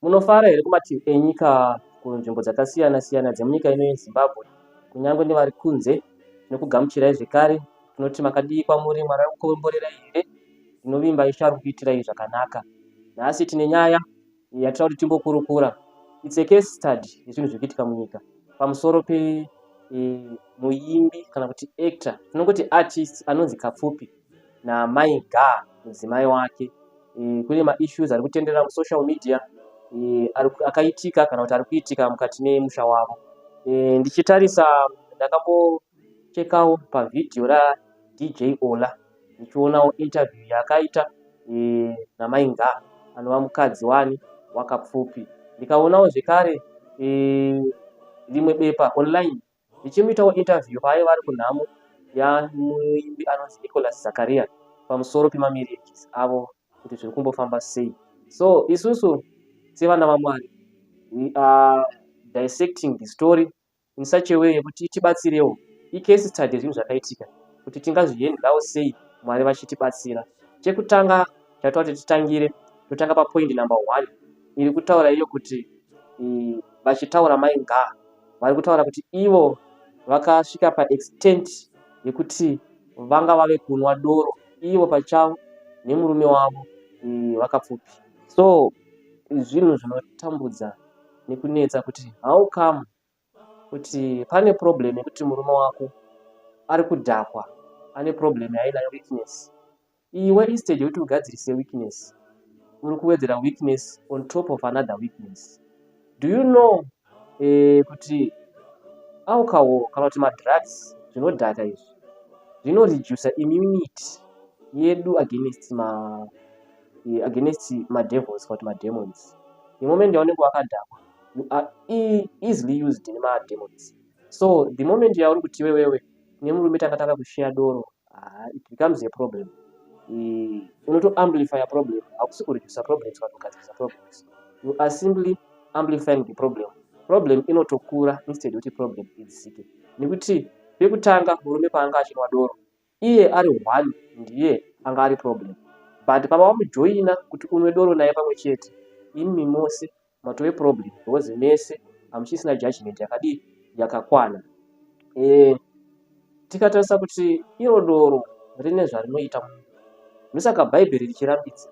Munofara here kumativi enyika kunzvimbo dzakasiyana siyana dzemunyika ino yeZimbabwe kunyange nevari kunze nekugamuchirai zvekare tinoti makadii kwamuri mwari akukomborerai here tinovimba ishe ari kukuitirai zvakanaka nhasi tine nyaya yatira kuti timbokurukura its a case study yezvinhu zviri kuitika munyika pamusoro pe e, muimbi kana kuti actor tinongoti artist anonzi kapfupi namai Ga mudzimai wake e, kune maissues ari kutenderera musocial media e, akaitika kana kuti ari kuitika mukati memusha wavo e, ndichitarisa ndakambochekawo pavhidhiyo radj ola ndichionawo interview yaakaita e, namai Nga anova mukadzi wani wakapfupi ndikaonawo zvekare e, rimwe bepa online Ndichimuitawo interview paaiva ari kunhamo yamuimbi anonzi Nicholas Zakaria pamusoro pemamarriages avo kuti zviri kumbofamba sei. So isusu sevana vaMwari we are dissecting the story in such a way yekuti tibatsirewo icase study zvinhu zvakaitika kuti tingazvihendlawo sei Mwari vachitibatsira. Chekutanga chatova kuti titangire totanga papoint number one iri kutaura iyo kuti vachitaura mai ngaa vari kutaura kuti ivo vakasvika paextent yekuti vanga vave kunwa doro ivo pachavo nemurume wavo vakapfupi so zvinhu zvinotambudza nekunetsa kuti how come kuti pane problem yekuti murume wako ari kudhakwa ane problem yainayo weakness Iwe instead yekuti ugadzirise weakness, uri kuwedzera weakness on top of another weakness. Do you know eh, kuti alcohol kana kuti madrugs zvinodhaka izvi zvino reduce immunity yedu against ma eh, against madevils kana kuti mademons. The moment yaunenge wakadhakwa you are e-, easily used nemademons. So the moment yauri kuti iwewewe nemurume takatanga kusheya doro ah, it becomes a problem mm, unoto amplify problem hakusi kureducer problems kana kugadzirisa problems you are simply amplifying the problem problem inotokura instead yekuti problem idzike nekuti pekutanga murume paanga achinwa doro iye ari one ndiye anga ari problem but pava wamujoina kuti unwe doro naye pamwe chete imi mose matove problem because mese hamuchisina judgment yakadii yakakwana e, tikatarisa kuti iro doro rine zvarinoita munhu ndosaka bhaibheri richirambidza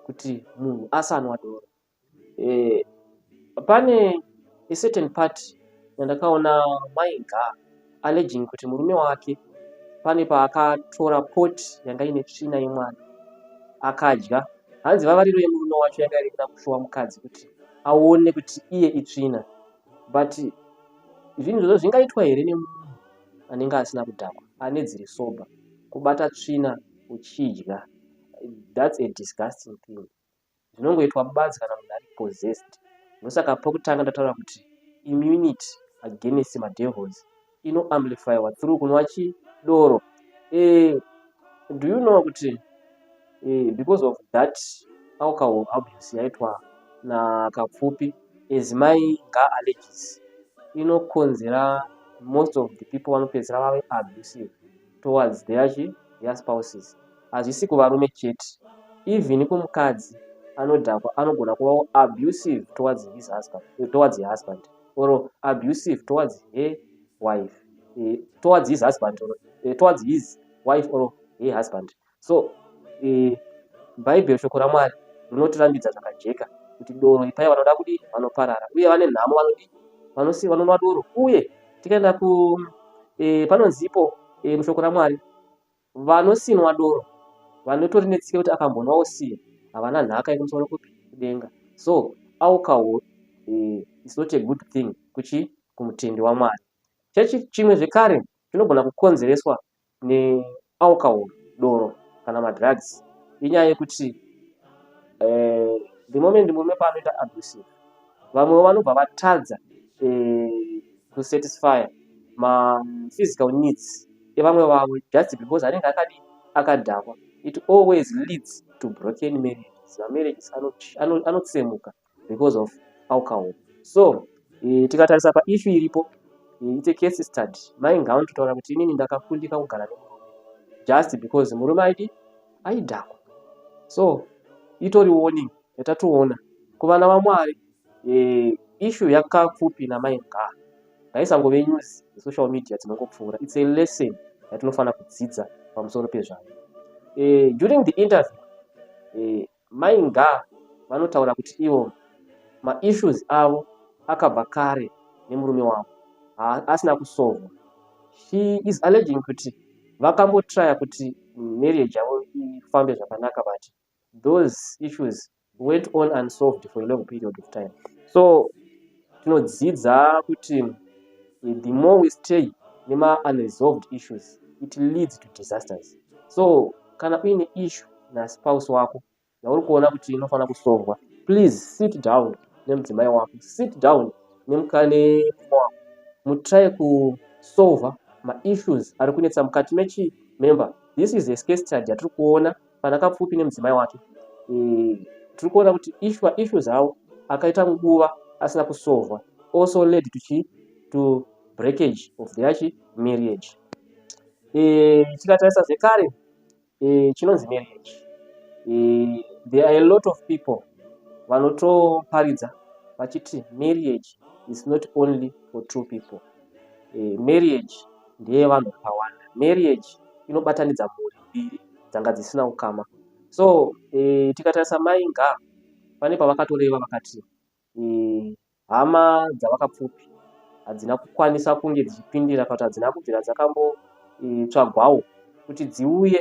kuti munhu asanwa doro e, pane a certain part yandakaona mainga alleging kuti murume wake pane paakatora pot yanga ine tsvina yemwana akadya hanzi vavariro yemurume wacho yanga iri kuda kushowa mukadzi kuti aone kuti iye itsvina but zvinhu zvozo zvingaitwa here nemunhu anenge asina kudhakwa ane dziri sober kubata tsvina uchidya that's a disgusting thing zvinongoitwa mubadzi kana munhu ari possessed ndosaka pokutanga ndataura kuti immunity against madevils ino amplifywa through kunwa chidoro eh, do you know kuti eh, because of that alcohol abuse yaitwa nakapfupi as mai nga allergies inokonzera most of the people vanopedzisira vave abusive towards their chi their spouses hazvisi kuvarume chete even kumukadzi anodhakwa anogona kuvawo abusive towards his husband eh, towards her husband or abusive towards her wife eh, towards his husband or eh, towards his wife or her husband so eh, bhaibheri shoko ramwari rinotirambidza zvakajeka kuti doro ipai vanoda kudi vanoparara uye vane nhamo vanodi vanosi vanonwa doro uye tikaenda ku eh, panonzipo eh, mushoko ramwari vanosinwa doro vanotori netsika kuti akambonwa osiya havana nhaka inomusoro kupi kudenga so alcohol eh, is not a good thing kuchi kumutendi wamwari chechi chimwe zvekare chinogona kukonzereswa nealcohol doro kana madrugs inyaya yekuti eh, the moment murume paanoita abusive vamwewo vanobva vatadza eh, kusatisfya maphysical needs evamwe vavo just because anenge akadi akadhakwa it always leads to broken marriages mamarriages anotsemuka ano, ano because of alcohol so e, tikatarisa paissue iripo eh, it's a case study mai ngaoni totaura kuti inini ndakakundika kugara nemurume just because murume aidi aidhakwa so itori warning yatatoona kuvana vamwari e, issue yakapfupi namai ngaa ngaisangove news dzesocial media dzinongopfuura it's a lesson yatinofanira kudzidza pamusoro pezvayo e, during the interview e, Mai Nga vanotaura kuti ivo maissues avo akabva kare nemurume wavo asina kusovwa. She is alleging kuti vakambotraya kuti marriage yavo ifambe zvakanaka but those issues went on unsolved for a long period of time. So tinodzidza kuti eh, the more we stay nema unresolved issues it leads to disasters so kana uine issue naspouse wako yauri kuona kuti inofanira kusovwa please sit down nemudzimai wako sit down nemukane wako mutry kusolva maissues ari kunetsa mukati mechi member this is a scase study yatiri kuona Pana Kapfupi nemudzimai wake eh, tiri kuona kuti ishwa issues awo akaita nguva asina kusovwa also led to chi to breakage of their chi marriage eh, tikatarisa zvekare eh, chinonzi marriage eh, there are a lot of people vanotoparidza vachiti marriage is not only for two people eh, marriage ndeyevanhu vakawanda marriage inobatanidza mhuri mbiri dzanga dzisina ukama so e, tikatarisa mai nga pane pavakatoreva vakati e, hama dzavakapfupi hadzina kukwanisa kunge dzichipindira kana kuti hadzina kubvira dzakambotsvagwawo e, kuti dziuye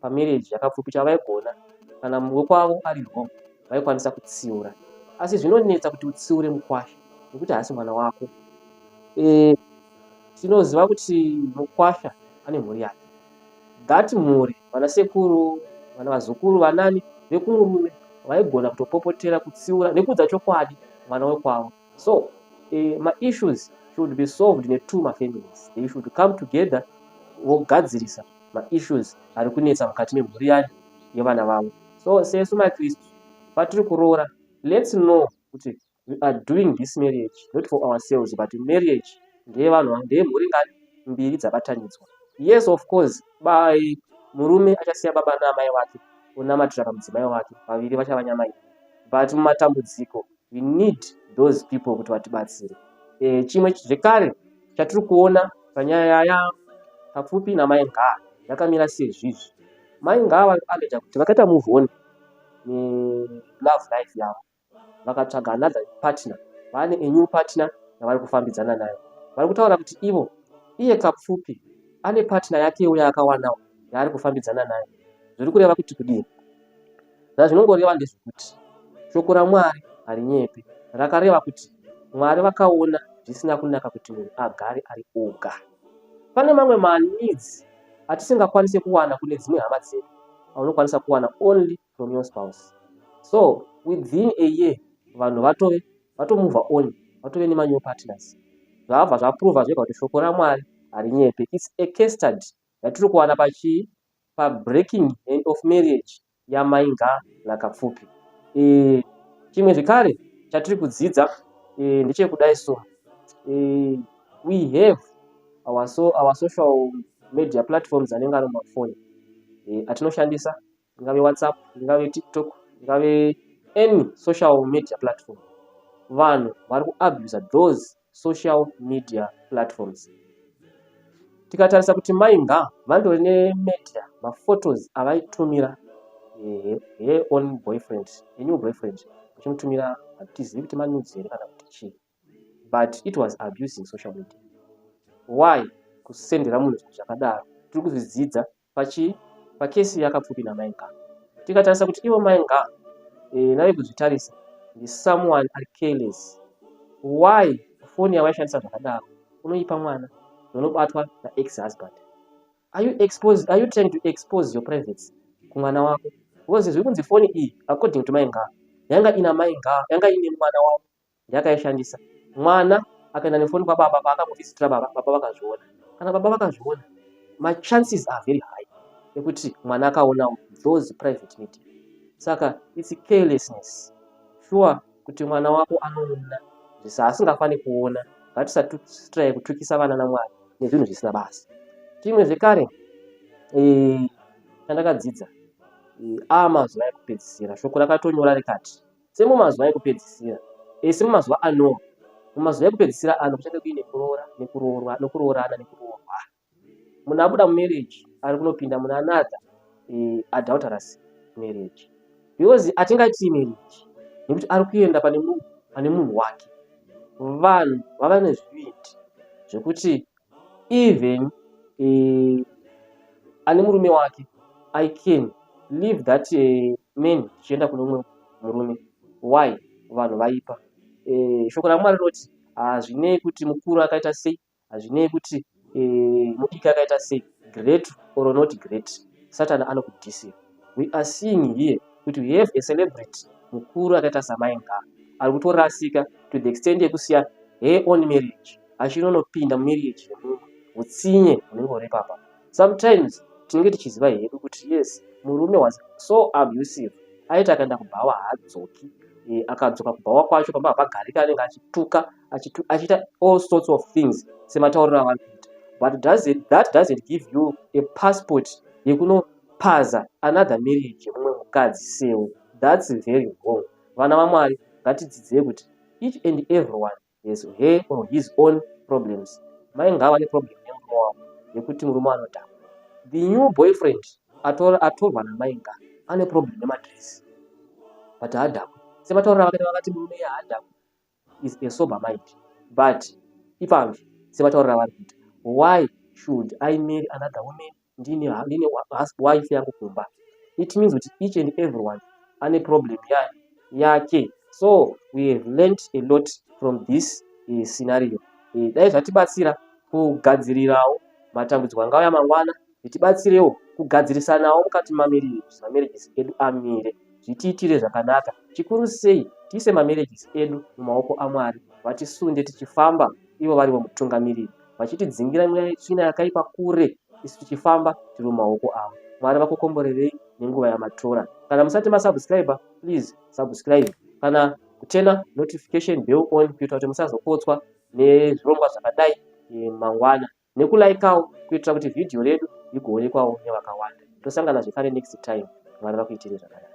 pamarriage yakapfupi chavaigona kana wekwavo ari wrong vaikwanisa kutsiura asi zvinonetsa kuti utsiure mukwasha nekuti haasi mwana wako e, tinoziva kuti mukwasha ane mhuri yake that mhuri vana sekuru vana vazukuru vanani vekumurume vaigona kutopopotera kutsiura nekuudza chokwadi mwana wekwavo so e, maissues should be solved netwo mafamilies they should come together vogadzirisa maissues ari kunetsa mukati memhuri yayo yevana vavo so sesu makristu patiri kuroora lets know kuti we are doing this marriage not for ourselves but marriage ndeyevanhu ndeyemhuri ngani mbiri dzabatanidzwa yes of course by murume achasiya baba naamai vake onamatira pamudzimai wake vaviri vachava nyama iyi but mumatambudziko we need those people kuti vatibatsire e, chimwe zvekare chatiri kuona panyaya yaya papfupi namai ngaa yakamira sezvizvi mai ngaa vanoita kuti vakaita move on nelove life yavo vakatsvaga another partner vane anew partner yavari kufambidzana nayo vari kutaura kuti ivo iye kapfupi ane partner yake uya akawanawo yaari kufambidzana nayo zviri kureva kuti kudii Zvazvinongoreva ndezvokuti shoko raMwari harinyepi. Rakareva kuti Mwari vakaona zvisina kunaka kuti munhu agare ari oga. Pane mamwe manidzi atisingakwanise kuwana kune dzimwe hama dzedu aunokwanisa kuwana only from your spouse. So within a year vanhu vatove vatomuvha on vatove nemanew partners. Zvabva zvaprova zvega kuti shoko raMwari harinyepe. Its a case study yatiri kuwana pachii pabreaking hand of marriage yamainga nakapfupi e, eh, chimwe zvekare chatiri kudzidza e, eh, ndechekudai so e, we have our, so, our social media platforms anenge ari mumafoni e, atinoshandisa ingave whatsapp ingave tiktok ingave any social media platform vanhu vari kuabusa those social media platforms tikatarisa kuti mai nga vandori nemedia maphotos avaitumira eh, her own boyfriend a new boyfriend achimutumira hatizivi kuti manudzi here kana kuti chii but it was abusing social media why kusendera munhu zvinhu zvakadaro tiri kuzvidzidza pachi pakesi yakapfupi namai nga tikatarisa kuti ivo mai nga e, eh, nave kuzvitarisa ndi someone ari careless why foni yavaishandisa zvakadaro unoipa mwana unobatwa naex husband are you exposed are you trying to expose your privacy kumwana wako because zviri kunzi foni iyi according to mai nga yanga ina mai nga yanga ine mwana wavo yakaishandisa mwana akaenda nefoni kwababa paakangovisitira baba baba vakazviona kana baba vakazviona machances are very high ekuti mwana akaonawo those private media saka its carelessness sure kuti mwana wako anoona zvisaasingafaniri kuona ngatisatrai kutukisa vana namwana nezvinhu zvisina basa chimwe zvekare eh, chandakadzidza eh, a mazuva ekupedzisira shoko rakatonyora rikati Semumazuva ekupedzisira, e, semumazuva aNoa, mumazuva ekupedzisira ano kuchange kuine kuroora nekuroorwa nokuroorana nekuroorwa. Munhu abuda mumereji ari kunopinda muna another e, adulterous marriage because hatingaiti imereji nekuti ari kuenda pane munhu pane munhu wake. Vanhu vava nezvivindi zvekuti even uh, ane murume wake i can leave that uh, man chienda kune umwe murume why vanhu vaipa uh, shoko ramwari rinoti hazvinei kuti mukuru akaita sei hazvinei kuti uh, mudiki akaita sei great or not great satani anokudhisira we are seeing here kuti we have a celebrity mukuru akaita samai ngava ari kutorasika to the extent yekusiya her own marriage achinonopinda mumarriage yemunhu utsinye hunenge huri papa sometimes tinenge tichiziva hedu kuti yes murume was so abusive aiti akaenda kubhawa haadzoki e, akadzoka kubhawa kwacho pamba hapagarika anenge achituka achiita all sorts of things sematauriro avanoita but does it, that doesn't give you a passport yekuno Paza another marriage yemumwe mukadzi sewe thats very wrong vana vamwari ngatidzidzei kuti each and everyone has her or his own problems mai ngava neproblem nemurume wavo yekuti murume anodhaka the new boyfriend atorwa namai nga ane problem nemadress but haadhakwe semataurira vakaita vakati murume ye haadhakwe is a sober mind but ipanzvi sevataurira vari kuita why should i marry another woman ndine ndine wife yangu kumba it means kuti each and everyone ane problem yayo yake so we have learnt a lot from this uh, scenario uh, dai zvatibatsira kugadzirirawo matambudziko angauya mangwana zvitibatsirewo kugadzirisanawo mukati mamerejisi mamerejisi edu amire zvitiitire zvakanaka chikuru sei tiise mamerejisi edu mumaoko amwari vatisunde tichifamba ivo varivo mutungamiriri vachitidzingira tsvina yakaipa kure isu tichifamba tiri mumaoko avo mwari vakukomborerei nenguva yamatora kana musati masubscribe please subscribe kana kutena notification bell on kuitira kuti musazopotswa nezvirongwa zvakadai eh, mangwana nekulaikawo kuitira kuti vhidhiyo redu rigoonekwawo nevakawanda tosangana zvekare next time mwari vakuitirei zvakanaka